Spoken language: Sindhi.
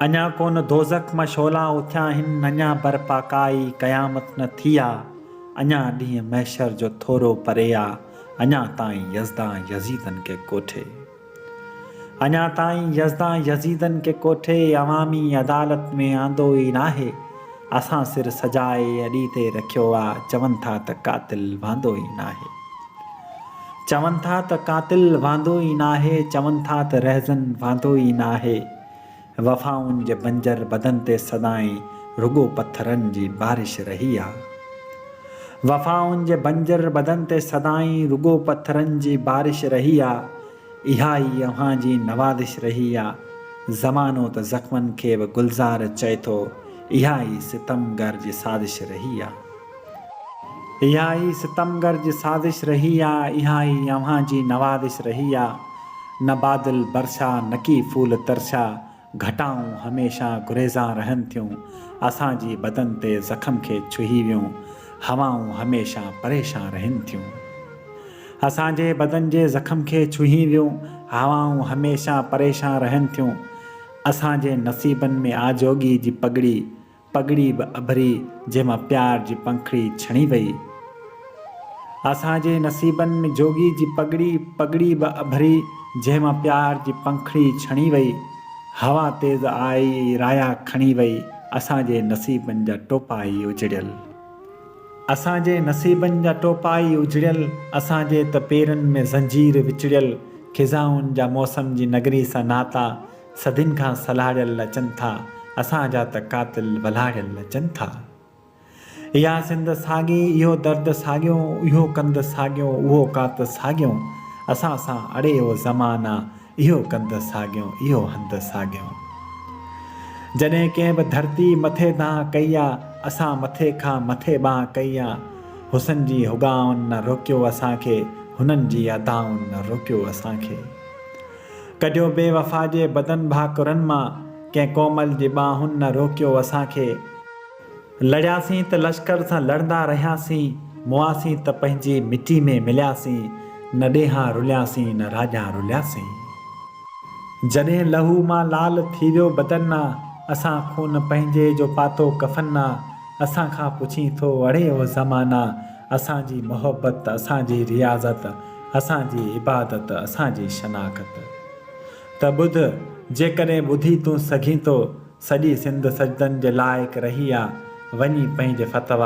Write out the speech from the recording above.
اڃا ڪونه دوزخ مان شعلا اٿيا آهن، اڃا برپا ڪائي قيامت نه ٿي آ، اڃا ڏينهن محشر جو ٿورو پري آ، اڃا تائين يزدان يزيدن کي ڪوٺي. اڃا تائين يزدان يزيدن کي ڪوٺي عوامي عدالت ۾ آندو ئي ناهي، اسان سر سجائي اڏي تي رکيو آ، چون ٿا ته قاتل وهندو ئي ناهي. چون ٿا ته قاتل واندو ئي ناهي، چون ٿا ته رهزن واندو ئي ناهي. وفائن جي بنجر بدن تي سدائين رڳو پٿرن جي بارش رهي آ. وفائن جي بنجر بدن تي سدائين رڳو پٿرن جي بارش رهي آ. اها ئي اوهان جي نوازش رهي آ. زمانو ته زخمن کي به گلزار چئي ٿو. اها ئي ستمگر جي سازش رهي آ. اها ئي ستمگر جي سازش رهي آ. اها ئي اوهان جي نوازش رهي آ. نه بادل برسا نه ڪي ڦول ترسا. گهٽائون هميشه گريزان رهن ٿيون، اسان جي بدن تي زخم کي ڇهي ويون هوائون هميشه پريشان رهن ٿيون. اسان جي بدن جي زخم کي ڇهي ويون هوائون هميشه پريشان رهن ٿيون، اسان جي نصيبن ۾ آجوڳي جي پڳڙي پڳڙي به اڀري جنهن مان پيار جي پنکڙي ڇڻي وئي. اسان جي نصيبن ۾ جوڳي جي پڳڙي، پڳڙي به اڀري جنهن مان پيار جي پنکڙي ڇڻي وئي. هوا تيز آئي رايا کڻي وئي اسان جي نصيبن جا ٽوپا ئي اجڙيل. اسان جي نصيبن جا ٽوپا ئي اجڙيل اسان جي ته پيرن ۾ زنجير وچڙيل خزائن جا موسم جي نگري سان ناتا صدين کان سلهاڙيل اچن ٿا، اسان جا ته قاتل ولهاڙيل اچن ٿا. اها سنڌ ساڳي، اهو درد ساڳيو، اهو ڪنڌ ساڳيو، اهو ڪات ساڳيو، اسان سان اڙي اهو زمان آ، اهو ڪنڌ ساڳيو، اهو هنڌ ساڳيو. جڏهن ڪنهن به ڌرتي مٿي دانهن ڪئي آ، اسان مٿي کان مٿي ٻانهن ڪئي آ. حسن جي هڳائن نه روڪيو اسان کي، هنن جي ادائن نه روڪيو اسان کي. ڪڍيو بي وفا جي بدن ڀاڪرن مان ڪنهن ڪومل جي ٻانهن نه روڪيو اسان کي لڙياسين ته لشڪر سان لڙندا رهياسين موئاسين ته پنهنجي مٽي ۾ ملياسين نه ڏيهان رلياسين نه راڄان رلياسين جڏهن لهو مان لال ٿي ويو بدن نه اسان خون پنهنجي جو پاتو ڪفن نه اسان کان پڇين ٿو اڙي او زمانا اسان جي محبت اسان جي رياضت اسان جي عبادت اسان جي شناخت ته ٻڌ جيڪڏهن ٻڌي تون سگهين ٿو سڄي سنڌ سجدن جي لائق رهي آ وڃي پنهنجي فتويٰ